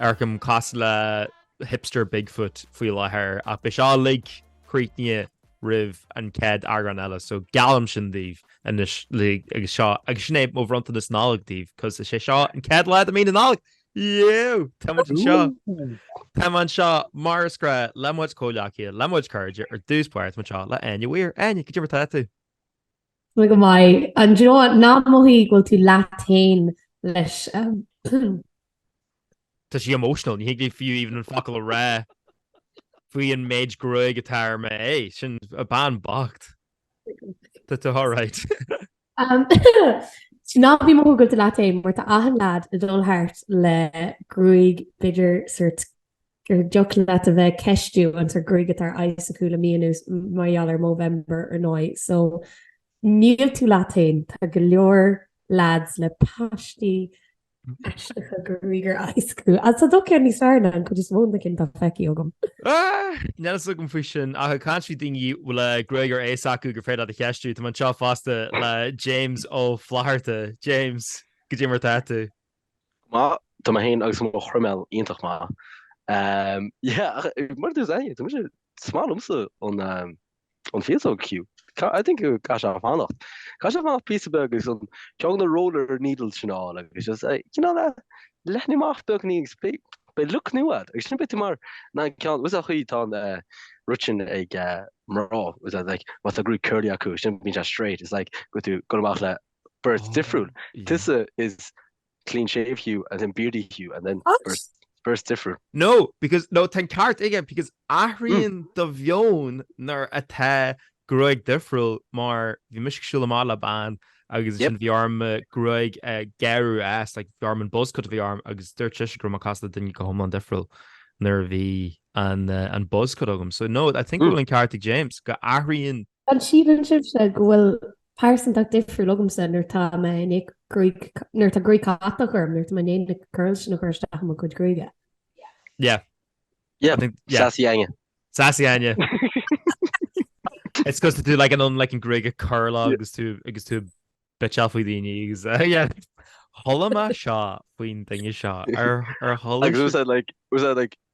Ar casadh le hipster Bigfoot faoi láthair ach beidh sé uilig críochnaithe roimh an chéad eagrán eile so geallaim sin daoibh anois like agus seo agus sin é mo bhronntanas Nollag daoibh cos is é seo an chéad lá de mí na Nollag! Yeo! Tá muid anseo! Tá muid anseo mar is grá le mo chuid comhghleacaithe, le mo chuid cairde ar dtús báire tá mé anseo le Áine Weir. Áine, goidé mar atá tú? Tá go maith. And do you know ná mothaigh go bhfuil tú leat féin leis um, Tá sí emotional, ní thig léi fiú even an focal a rá faoi an méid gruaig atá ar m'aghaidh, sin an bhean bhocht. Tá tú alright. um, ná bí ag mothú go bhfuil tú leat féin mar tá achan lead ag dul thart le gruaig b'fhéidir sórt Gur dtiocfadh leat a bheith ag ceistiú an tar gruaig atá ar a n-aghaidh acu le mí anuas mar gheall ar Movember ar ndóigh. So níl tú leat fhéin, tá go leor lads le paistí aisteacha gruaige ar a n-aghaidh acu. Agus tá do cheann níos fearr ná an chuid is mó de na cinn atá feicthe agam. Níl a fhios agam faoi sin ach ag caint faoi daoine a bhfuil gruaig ar a n-aghaidh acu gur féidir leat a cheistiú. Tá mé anseo fosta le James Ó Flatharta. James, goidé mar atá tú? Go maith tá mé féin agus mo chroiméal, iontach maith. Yeah, ach mar a dúirt Áine, tá sé is maith liomsa an fhéasóg Hugh. I think go gcaithfidh sé fanacht. Caithfidh sé fanacht píosa beag agus ceann de na roller needles sin a fháil agus just eh, you know that, leathnaigh amach beagáinín agus beidh beidh look new agat agus sin beidh tú mar na ceann, what's that chaoi tá an eh, rud sin ag eh, mná, what's that like, má tá gruaig curly acu, sin bíonn sé straight, it's like go bhfuil tú ag dul amach le beirt difriúil. There is clean shave Hugh and then beardy Hugh and then beirt beirt difriúil. No because no tá an ceart aige because athraíonn do mheon nuair atá gruaig difriúil mar bhí mise ag siúl amach le bean agus ansin bhí orm gruaig gearr agus like bhí orm an buzz cut a bhí orm agus dúirt sise go raibh mé ag casadh le duine go hiomlán difriúil nuair a bhí an an buzz cut agam so no I think go bhfuil an ceart ag James go athraíonn An síleann sibhse go bhfuil pearsantacht difriúil agamsa nuair tá mé i ndiaidh, nuair tá gruaig catach orm, nuair tá mé i ndiaidh na curls sin a chur isteach i mo chuid gruaige? Yeah. Yeah, I think, yeah. Sassy Áine. Sassy Áine. It's because tá tú like an like an gruaig curly agus tú agus tú ag bitseáil faoi daoine agus uh, yeah. Chuala mé seo faoin duine seo ar ar chuala. Agus was that like was that like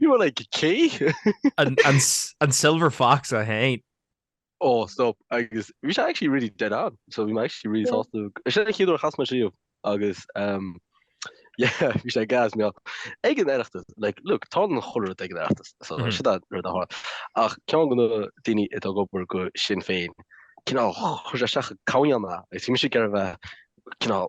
Bhí like cé? An Silver Fox é féin. Ó stop agus bhí sé actually really dead on so bhí mé actually really sásta. Is é an chéad uair a chas mé leis agus yeah bhí sé gas mé ag an Oireachtas like look tá an chulra ag an Oireachtas so mm-hmm. si ru a hard ach ceann de na daoine atá ag obair do Sinn Féin cinál chuir sé isteach caíanna is si sé gar bheith cinál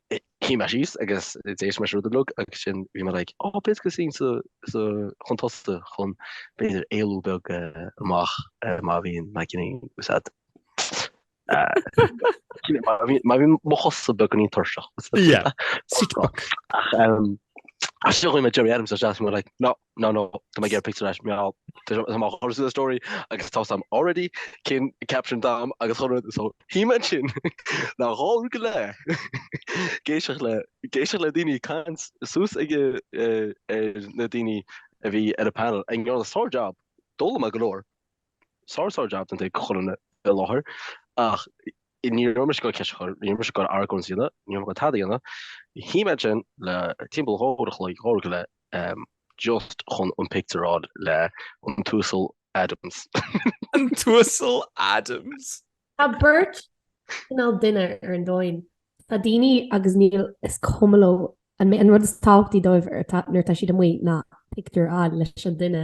Shuigh mé síos agus d'éist mé rud a bhlog agus ansin bhí mé like oh b'fhéidir go suíonn sa chun tosaigh chun b'fhéidir éalú beag amach má bhíonn na gcine úsáidte. Má bhíonn mo chosa beagán tuirseach. Ach seo chuir mé Gerry Adams is bhí mé like no No no, tá mé ag iarraidh pictiúr leis, meall. Tá mé á chur sa story agus tá a fhios agam already cén caption atá agam agus gach rud so shuigh mé ansin le dhá uair go leith ag éisteacht le daoine ag caint suas chuig na daoine a bhí ar an panel ag déanamh sár jab d'fhoghlaim mé go leor sár sár jab don té a chuir i láthair ach ní raibh mise ag goil ceist a chur ní raibh mise ag goil argóint a dhéanamh ní raibh mise ag goil tada a dhéanamh shuigh mé ansin le timpeall dhá uair an chloig dhá uair go leith just chun an pictiúr a fháil le An tUasal Adams. An tUasal Adams! Tá beirt cineál duine ar an domhain. Tá daoine agus níl is cuma leo an rud is tábhachtaí dóibh nuair atá siad amuigh ná pictiúr a fháil leis an duine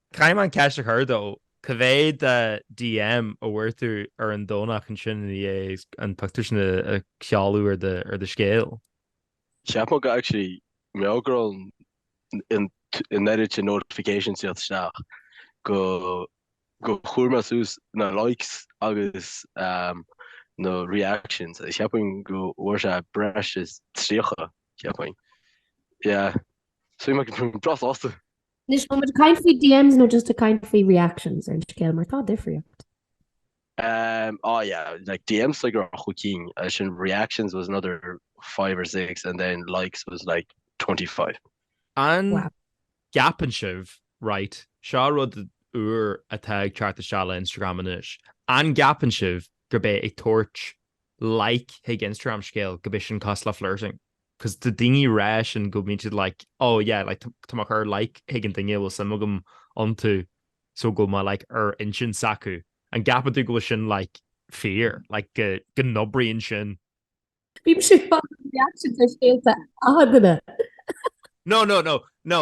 Caithfidh mé an cheist a chur though, cá mhéad de DM a bhfuair tú ar an Domhnach ansin ina dhiaidh an pictiúr sin a chaitheamh ar do scéal? Cheap mé go actually mar gheall go raibh an oiread notifications ag tíocht isteach go go chuir mé suas na likes agus na reactions is cheapfainn go bhfuair sé breis is 30 cheapfainn yeah so mé bhí mé breá sásta. Anois, an bhfuil muid ag caint faoi DMs nó just ag caint faoi reactions ar an scéal mar tá difríocht? Um, oh yeah, like DMs like cúig cinn, ansin reactions was another five or six and then likes was like 25. Wow. An gceapann sibh, right, seo rud úr atá ag teacht isteach le Instagram anois, an gceapann sibh gurb é ag tabhairt like chuig Instagram scéal gurb é sin cosúil le flirting? 'Cos tá daoine ag rá sin go mbíonn siad like, oh yeah, like tá mé ag cur like chuig an duine a bhfuil suim agam iontu so go bhfuil mé like ar intinn s'acu. An gceapann tú go bhfuil sin like fíor, like go n-oibríonn sin? Bímse ag fágáil reactions ar scéalta achan duine. No, no, no, no.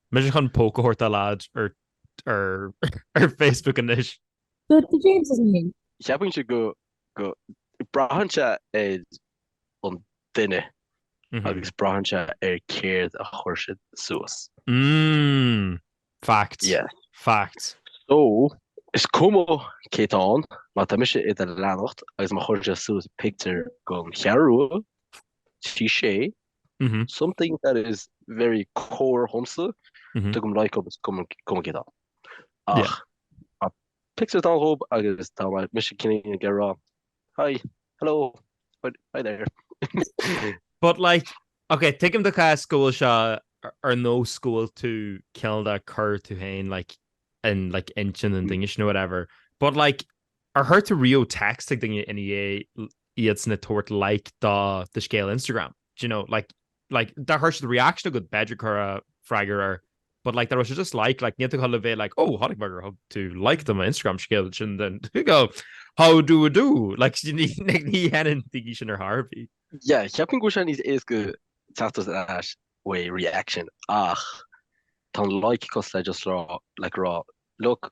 Imagine poke a thabhairt do leaid ar Facebook anois. Good for James is mine. Ceapaimse go braitheann sé ar an duine agus braitheann sé ar céard a chuir siad suas. Mmm. Fact. Yeah. Fact. So, is cuma cé tá ann, má tá mise i do leanacht agus má chuireann sé suas pictiúr den cheathrú, trí sé, Something that is very core dhomsa, tugaim like agus is cuma cé tá ann. Ach tá pictiúr dán dhób agus tá mise i gcónaí ag rá hi, hello, hi there. But like, ok, tuigim do chás go bhfuil seo ar nós go bhfuil tú cineál ag cur tú féin like in like intinn an duine sin or whatever, but like Ar chuir tú riamh text ag duine i ndiaidh iadsan ag tabhairt like do do scéal Instagram? Do you know, like, like, dá chuir siad reaction agat b'fhéidir cur freagra air but like dá raibh sé just like, like níl tú ag gabháil a bheith like oh chonaic mé gur thug tú like do mo Instagram scéal and then you go how do you do like ní ní dhéanann daoine sin ar chor ar bith. Yeah, cheapfainn go bhfuil sé níos éasca teacht ar ais uaidh reaction ach tá an like cosúil le just rá like rá look,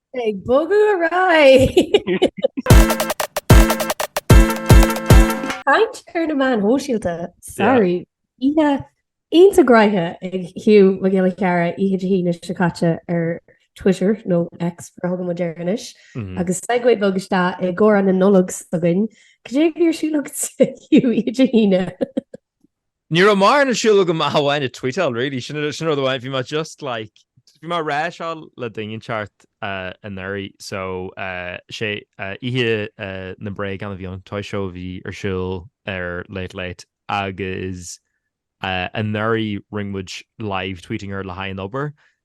Beidh bogadh ar aghaidh! Caint ar na meáin shóisialta, sorry, oíche iontach gnaitheach ag Hugh Mac Giolla Chearra oíche Dé hAoine seo caite ar Twitter, nó X mar a thugann muid air anois, agus segue bheag isteach i gcomhrá na Nollag s'againn. Cad é a bhí ar siúl agat, Hugh, oíche Dé hAoine? Ní raibh mórán ar siúl agam ach amháin ag tvuíteáil really, sin an rud amháin, bhí mé just like, bhí mé ag rá seo le duine inteacht anuraidh, so is é oíche na mbréagán a bhí ann, toy show a bhí ar siúl ar Late Late agus anuraidh rinne muid live tweeting air le haghaidh an obair,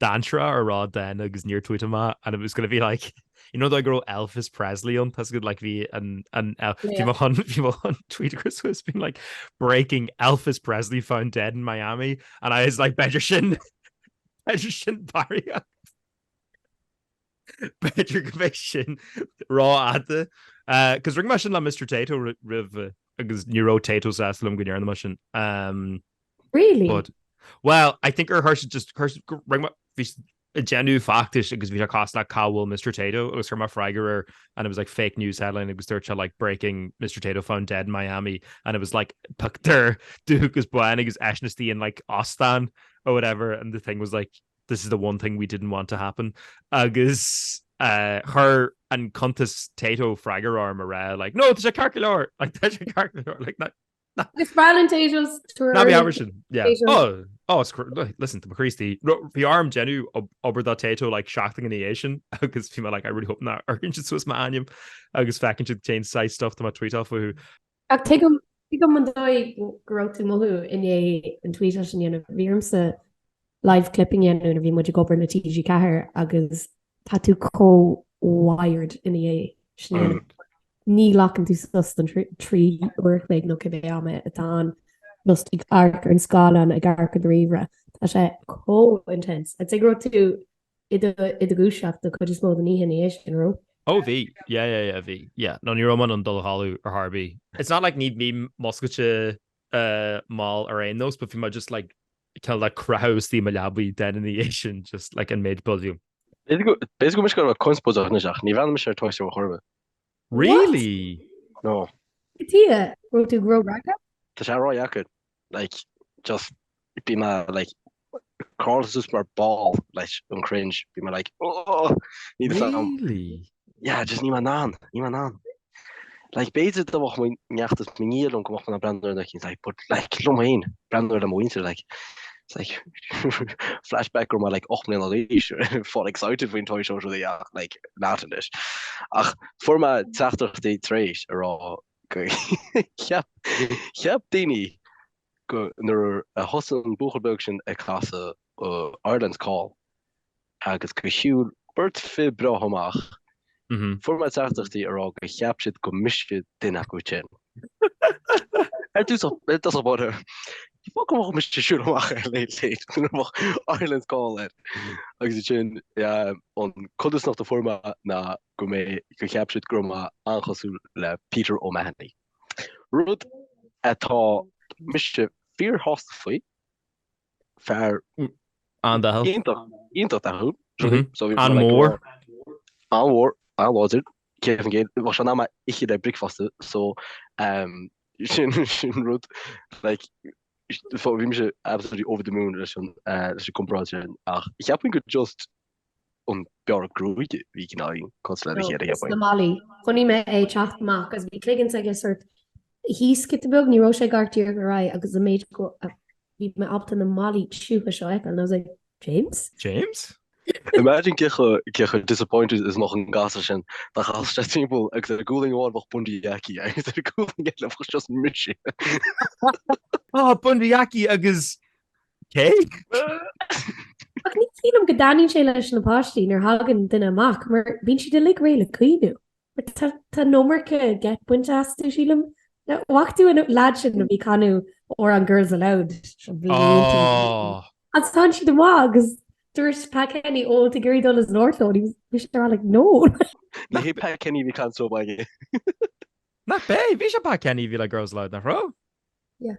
dainséara a rá den agus níor tuaithe mé and it was going to be like you know do I go raibh Elvis Presley an tas go like bhí an an bhí mo chun bhí mo chun tweet across was being like breaking Elvis Presley found dead in Miami and I was like better sin better sin barry B'fhéidir go bheidh sin ró-fhada. Because rinne mé sin le Mister Tayto roimhe agus ní raibh Tayto sásta liom go ndearna mé sin. Really? But, well, I think gur chuir sé just chuir rinne mé ag déanamh feachtais agus bhí sé cosúil le cá bhfuil Mister Tayto agus chuir mé freagra air and it was like fake news headline agus dúirt sé like breaking Mister Tayto found dead in Miami and it was like pictiúr dubh agus bán agus eisean istigh in like óstán or whatever and the thing was like this is the one thing we didn't want to happen agus chuir an cuntas Tayto freagra orm ag rá like no tá sé ceart go leor like tá sé ceart go leor like Agus Brian Tayto's tour. Ná bí mar sin yeah oh oh listen to Christy bhí orm ag déanamh obair do Tayto like seachtain ina dhiaidh sin agus bhí mé like I really hope nach n-amharcann siad suas m'ainm agus feiceann siad cén saghas stuff atá mé ag tvuíteáil Ach tuigim, tuigim an dóigh go raibh tú ag mothú i ndiaidh an tweet sin a dhéanamh. Bhí ormsa live clipping a dhéanamh nuair a bhí muid ag obair le TG4 agus tá tú chomh wired ina dhiaidh sin a dhéanamh. Ní ghlacann tú sos don trí, trí uair a chloig nó cibé am é atá ann, just ag amharc ar an scáileán, ag amharc ar do ríomhaire. Tá sé chomh intense. I'd say go raibh tú i do dhúiseacht don chuid is mó den oíche ina dhiaidh sin, an raibh? Ó, bhí. Yeah, yeah, yeah, bhí. Yeah. No, ní raibh mé in ann dul a chodladh ar chor ar bith. It's not like ní bhím múscailte mall ar aon nós, but bhí mé just like cineál le creathadh istigh i mo leabaidh den ina dhiaidh sin, just like an méid volume. B'fhéidir go mbeadh go raibh conspóideach anois ach ní bhreathnaímse ar an toy show ar chor ar bith. Really? No. Cad chuige? Go raibh tú grógacha? Tá sé ródheacair. like, just bhí mé like, curled suas mar ball leis an cringe, bhí mé like, oh, ní do fan. Really? Yeah, just níl mé in ann, níl mé in ann. Like, b'fhéidir dá mbeadh mo neacht is mo nia ann go mbeadh mé ag breathnú air in éindí, like, but like, liom féin, breathnú air le mo mhuintir, like, it's like, flashback go raibh mé like 8 mbliana d'aois, fáil excited faoin toy show seo, like, not in it. Ach fuair mé teachtaireachtaí tar éis a rá Cheap daoine go nuair a thosaigh an buachaill beag sin ag casadh Ireland's Call agus go shiúil beirt fir breátha amach, fuair mé teachtaireachtaí a rá go cheap siad go mise duine acu sin. I dtosach báire, b'fhada go mbeadh mise ag siúl amach ar Late Late nuair a bheadh Ireland's Call air. Agus ansin, an chodarsnacht a fuair mé ná go mbeidh go cheap siad go raibh mé an-chosúil le Peter O'Mahony. Rud atá mise fíor shásta faoi, fear An-dathúil. iontach, iontach dathúil, truaillí, so bhí An-mhór. an-mhór, an-láidir, céad faoin gcéad, bheadh sé in ann mé a ithe le bricfeasta, so ehm sin, sin rud, like, bhí mise absolutely over the moon leis an, eh, leis an gcomparáid sin, ach cheapfainn gur just an bearradh gruaige bhí cineál cosúil le do chéad a théamhain. 'S na malaí. Chonaic mé é ag teacht amach agus bhí cloigeann s'aige sort thíos giota beag, ní raibh sé ag amharc díreach ar aghaidh agus an méid go bhí mé ábalta na malaí tiubha seo a fheiceáil and I was like, James? James? Imagine cé chomh disappointed is a bheadh an gasúr sin dá gcasfadh sé timpeall agus ar ghualainn amháin bheadh Bundee Aki agus ar ghualainn eile bheadh just mise. Bundee Aki agus Cé? Ach ní shílim go dtaitníonn sé leis na páistí nuair a thagann duine amach mar bíonn siad uilig réidh le caoineadh. Tá an iomarca geit bainte astu, sílim. An bhfaca tú an leaid sin a bhí ag canadh amhrán Girls Aloud seo blianta ago. Agus tháinig siad amach agus dúirt Pat Kenny, ó tá géirí dul as an áirthló and he was he was there like no. Ní hé Pat Kenny a bhí canadh só baige. Nach b'é? Bhí, 'sé Pat Kenny a bhí le Girls Aloud, nach raibh? Yeah.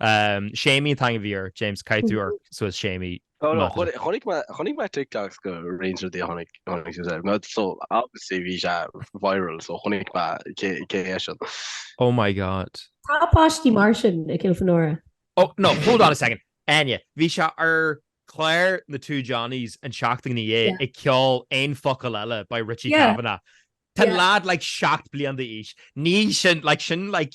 Séimí an tAingeal Bhí ort, James, caith tú ort suas Séimí. Chonaic mé TikToks de roinnt rudaí a tháinig suas air. So, obviously bhí sé viral, so chonaic mé cé é sin. Oh my God. Tá páistí mar sin i gCill Fionóra. Oh no, hold on a second, Áine, bhí sé ar clár na Two Johnnies an tseachtain ina dhiaidh ag ceol aon focal eile by Richie Kavanagh. Tá an leaid like seacht bliain d'aois. Ní sin, like sin like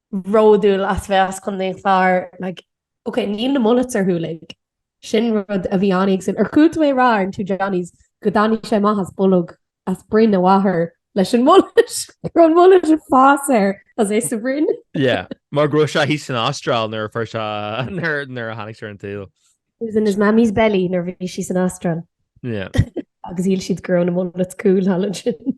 bhródúil as bheith as Contae an Chláir, like, ok, níl na mullets ar shiúl, like. Sin rud a bhí an-éagsúil. Ar chuala tú é ag rá ar an Two Johnnies go dtáinig sé amach as bolg as broinn a mháthar leis an mullet, go raibh an mullet ag fás air is é sa bhroinn. Yeah, mar go raibh sé thíos san Astráil nuair a fuair sé, nuair a tháinig sé ar an tsaol. He was in his mammy's belly nuair a bhí sí san Astráil. Yeah. Agus shíl siad go raibh na mullets cool thall ansin.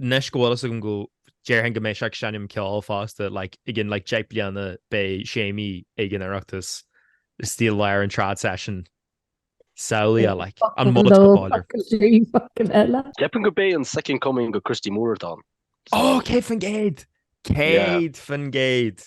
Anois go bhfuil fhios agam go déarfainn go mbeidh sé ag seinm ceoil fosta like i gcionn like deich bliana beidh Séimí ag an Oireachtas istigh i lár an trad session samhlaigh é like an mullet. Ceapaim gurb é an second coming de Christy Moore atá ann. Ó céad faoin gcéad. Céad faoin gcéad.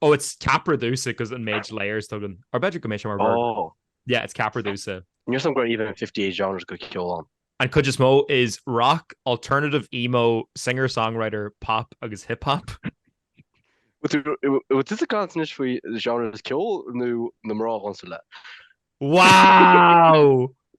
Oh it's ceapaire domhsa cos an méid layers atá agam or b'fhéidir go mbeidh sé mar bhord. Oh. Yeah it's ceapaire domhsa. Ní raibh a fhios agam go raibh even 58 genres de cheol ann. An chuid is mó is rock, alternative, emo, singer songwriter, pop agus hip hop. Bhfuil tusa ag caint anois faoi genres ceoil nó na mná dhomsa le? Wow!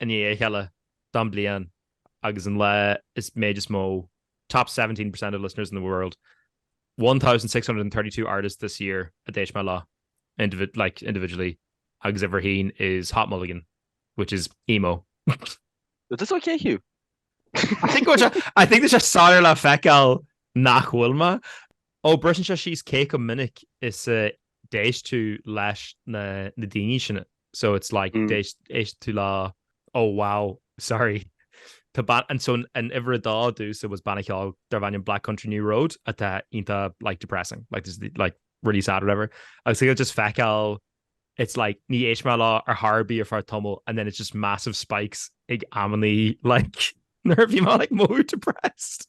i ndiaidh a chéile don bhliain agus an lá is méid is mó top 17 percent of listeners in the world, 1632 artists this year a d'éist mé leo like individually agus uimhir a haon is Hot Mulligan which is emo. Is this okay, Hugh? I think tá sé soiléir le feiceáil nach bhfuil mé. Ó briseann sé síos cé chomh minic is a d'éist tú leis na daoine sin so it's like d'éist tú leo oh wow sorry tá banna anseo an uimhir a dó domhsa was banna ceoil darb ainm Black Country New Road atá iontach like depressing like there's like really sad whatever agus tú just feiceáil it's like níor éist mé leo ar chor ar bith ar feadh tamall and then it's just massive spikes ag amannaí like nuair a bhí mé like more depressed.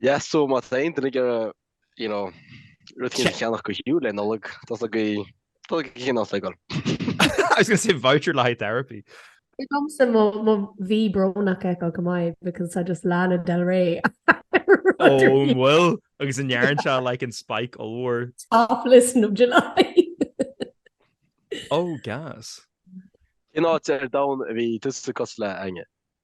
Yes so má tá aon duine ag iarraidh you know rud éigin a cheannach do Hugh le Nollaig tá sé go tá go cinn as againn. I was going to say voucher le haghaidh therapy. Is domsa mo mo mhí brónach ag go maith because tá just Lana Del Rey Oh an bhfuil agus an ndearn sé like an spike ollmhór. Top listen in July. Oh gas. Cén áit ar domhan a bhí tusa cosúil le, Áine?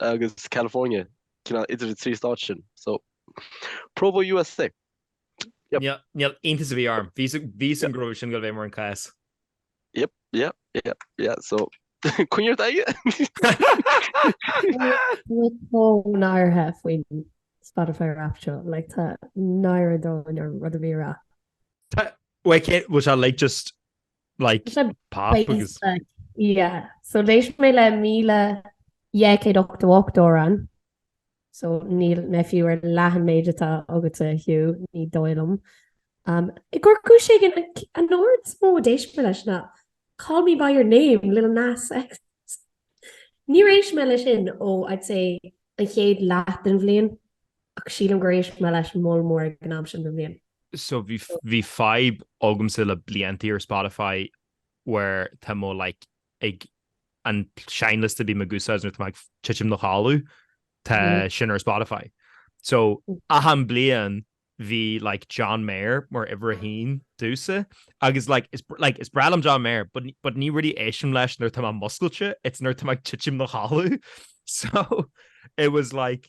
agus California, cineál idir na trí stát sin. So, Provo, USA. Yep. Ní iontas a bhí orm. Bhíos an gróibh sin go bhféadh mé an cás. Yep, yep, yep, yeah, so Conor, tá náire ort faoin Spotify Wrapped seo, like tá náire dúinn ar rud a bhí a rá. Tá, bhfuil sé like just Like just like pop beats agus le- yeah. So d'éist mé le 1188 amhrán. So níl mé fiú ar leath an méid atá agatsa Hugh, ní dóigh liom. Um, ar chúis éigin an c- an t-amhrán is mó a d'éist mé leis ná Call me by your name, Lil Nas X. Níor éist mé leis sin ó, I'd say, an chéad leath den bhliain. Ach sílim gur éist mé leis an moll mór ag an am sin den bhliain. So bhí fadhb agamsa le blianta ar Spotify where tá mo like ag an seinnliosta a bíonn agamsa nuair atá mé ag titim i mo chodladh tá sin ar Spotify. So achan bliain bhí like John Mayer mar uimhir a haon domhsa agus like like is breá liom John Mayer but ní really éistim leis nuair atá mé múscailte it's nuair atá mé ag titim i mo chodladh. So it was like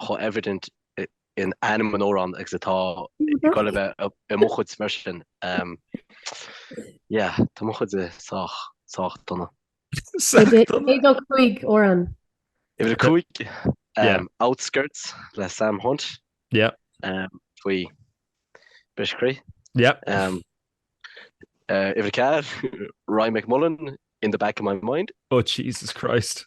chomh evident in ainm an amhráin agus atá ag dul a bheith i mo chuidse mar sin. Yeah, tá mo chuidse sách, sách dona. Cad é do chúig amhrán? Uimhir a cúig? Yeah. Outskirts le Sam Hunt. Yeah. Faoi bhriseadh croí. Yeah. Uimhir a ceathair, Ryan McMullan, In the Back of My Mind. Oh, Jesus Christ.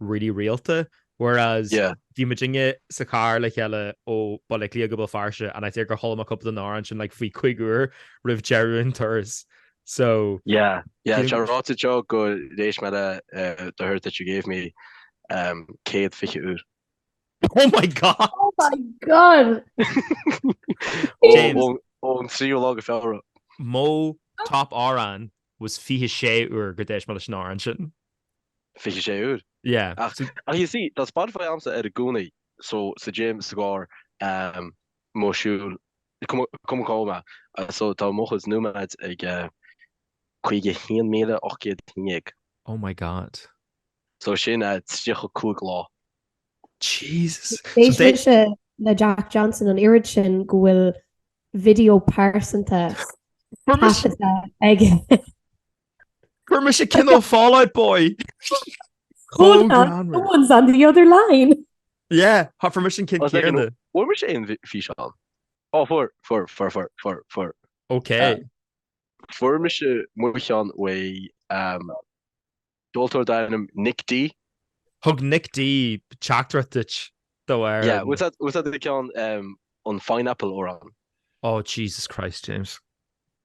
really rialta, whereas bhí muidinne sa charr le chéile ó Baile Átha Cliath go Béal Feirste and I think gur chuala mé cúpla de na hamhráin sin like faoi chúig uair roimh deireadh an turais so yeah yeah tá ráite aige gur éist mé le the hurt that you gave me um 120 uair oh my god oh my god ón tríú lá de Feabhra mo top amhrán was 26 uair gur éist mé leis an amhrán sin 26 uair. Yeah. Ach so ach you see tá Spotify agamsa ar i gcónaí so sa gym, sa gcarr, ehm, ag siúl, cuma cuma cá bhfuil mé, eh, so tá mo chuidse nóiméad ag eh, 51,819. Oh my god. So sin eh, 35 lá. Jesus. So D'éist mise le Jack Johnson an oiread sin go bhfuil video pearsanta Bhfuil mis- taifeadta aige. Fuair mise cineál Fall Out Boy! Hold on, someone's on the other line! Yeah, tá fuair mise an ceann céanna. Bhfuair sibhse aon fhíseán? Ó fuair, fuair, fuair, fuair, fuair, fuair. OK. Fuair mise mo cheann uaidh ceoltóir darb ainm Nic D. Thug Nic D teachtaireacht duit do ar... Yeah, was that, was that the ceann an Fine Apple amhrán? Oh Jesus Christ, James.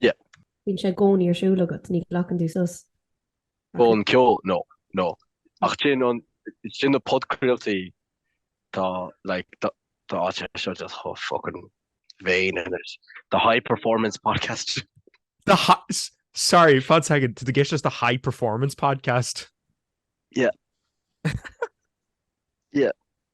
Yeah. Bíonn sé i gcónaí ar siúl agat, ní ghlacann tú sos. Ón ceol, no, no. Ach sin an, sin na podchraoltaí tá, like, tá, tá áit ar seo just chomh fucking vain in it. The high performance podcast. The hi- s- sorry, fan second, tá tú ag éisteacht leis the high performance podcast. Yeah. Yeah.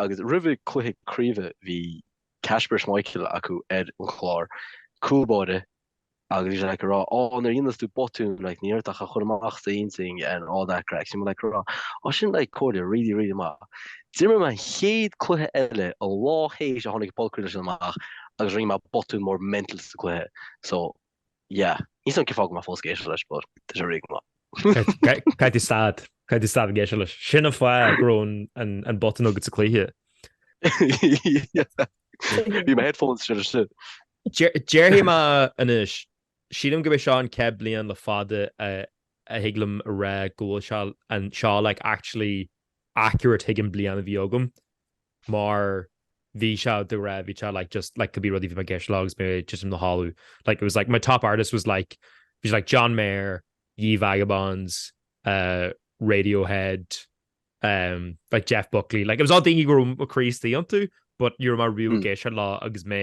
agus roimhe cluiche craoibhe bhí Kasper Schmeichel acu ar an chlár, cúl báire, agus bhí sé like ag rá Á nuair a dhéanas tú botún like ní mór duit é a chur amach as an intinn and all that craic, you know like ag rá Á sin like comhairle really really maith. D'imir mé an chéad cluiche eile an lá théis a tháinig an podchraoladh sin amach agus rinne mé botún mór mental sa gcluiche so Yeah. Níl a fhios agam cén fáth go bhfuil mé fós ag éisteacht leis but tá sé really go maith. Caithfidh tú stad. Caithfidh tú stad ag éisteacht leis. Sin an fáth go raibh an botún agat sa cluiche. Yeah. Bhí mo headphones sin istigh. Déarfaidh mé anois, sílim gurb é seo an chéad bliain le fada a thig liom a rá go bhfuil seo like actually accurate chuig an bliain a bhí agam. mar bhí sé de réir bhí sé like just like cibé rud a bhí mé ag éisteacht leo agus mé just i mo chodladh like it was like my top artist was like bhí sé like John Mayer, Ye Vagabonds, uh, Radiohead, um, like Jeff Buckley like it was all daoine go raibh mo chroí istigh iontu but ní raibh mé really ag hmm. éisteacht leo agus mé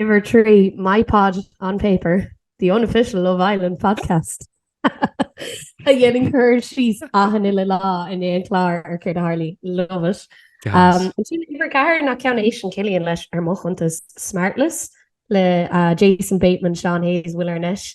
Uimhir 3, My Pod on Paper, the unofficial Love Island podcast, a dhéanann cur síos achan uile lá i ndiaidh an chlár ar céard a tharla. Love it. Um, ansin uimhir 4 ná ceann a éisteann Cillian leis ar mo chuntas Smartless le uh, Jason Bateman, Sean Hayes, Will Arnett,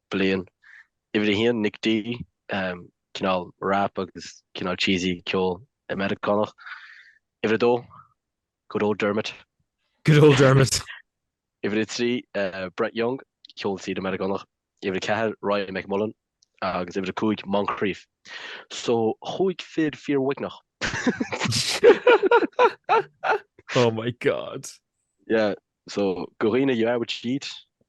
bliain. Uimhir a haon, Nic D, cineál rap agus cineál cheesy ceol Meiriceánach. Uimhir a dó, Good Old Dermot. Good Old Dermot. Uimhir a trí, Brett Young, ceol tíre Meiriceánach. Uimhir a ceathair, Ryan McMullan. Agus uimhir a cúig, Moncrieff. So cúig fir fíoruaigneach. Oh my God. Yeah, so go deimhin you are what you eat.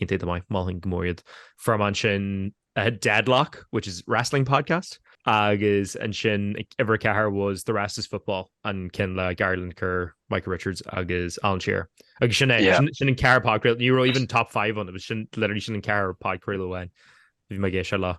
Iontach maith, mholfainn go mór iad. From ansin uh, Deadlock, which is wrestling podcast, agus ansin uimhir ceathair was the rest is football an ceann le Gary Lineker, Micah Richards agus Alan Shearer. agus sin é sin an ceithre podchraoladh, ní raibh even top 5 ann, it was literally sin an ceithre podchraoladh amháin a bhí mé ag éisteacht leo.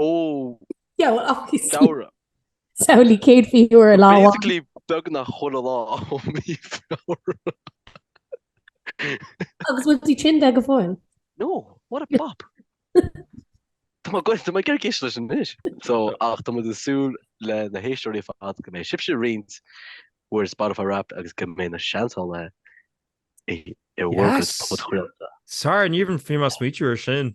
Ó! Samhradh! Samhlaigh céad mhí Fheabhra i lá amháin. Basically beagnach chuile lá ó mhí Feabhra. Agus bhfuil tú tinn de go fóill? No! What a bop! Tá mé go, tá mé ag iarraidh éisteacht leis anois! So, ach tá muid ag súil le na héisteoirí ar fad go mbeidh sibhse ag roinnt bhur Spotify Wrapped agus go mbeidh na Seansálaithe i, i bhur barr Yes! podchraolta. Sorry, níor even bhí mé ag smaoitiú air sin.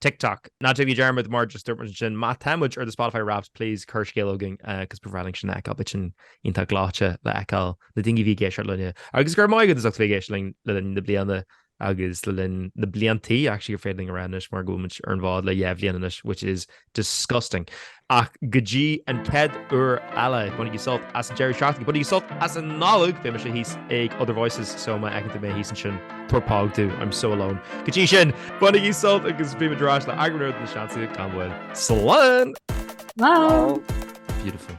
TikTok. Ná déanaigí dearmad mar just dúirt muid ansin, má tá muid ar do Spotify Wrapped, please cuir scéal chugainn 'cause ba bhreá linn sin a fheiceáil, beidh sin iontach gleoite le fheiceáil na daoine a bhí ag éisteacht linne agus go raibh maith agat as ucht a bheith ag éisteacht linn le linn na bliana agus le linn na bliantaí, actually gur féidir linn a rá anois mar go bhfuil muid ar an bhfód le dhá bhliain anois, which is disgusting. ach go dtí an chéad uair eile, bainigí sult as an deireadh seachtaine, bainigí sult as an Nollaig, beidh mise thíos ag Other Voices, so má fheiceann tú mé thíos ansin, tabhair póg domh, I'm so alone. Go dtí sin, bainigí sult agus beidh muid ar ais le eagrán úr de na Seansálaithe gan mhoill. Slán! Slán! Beautiful.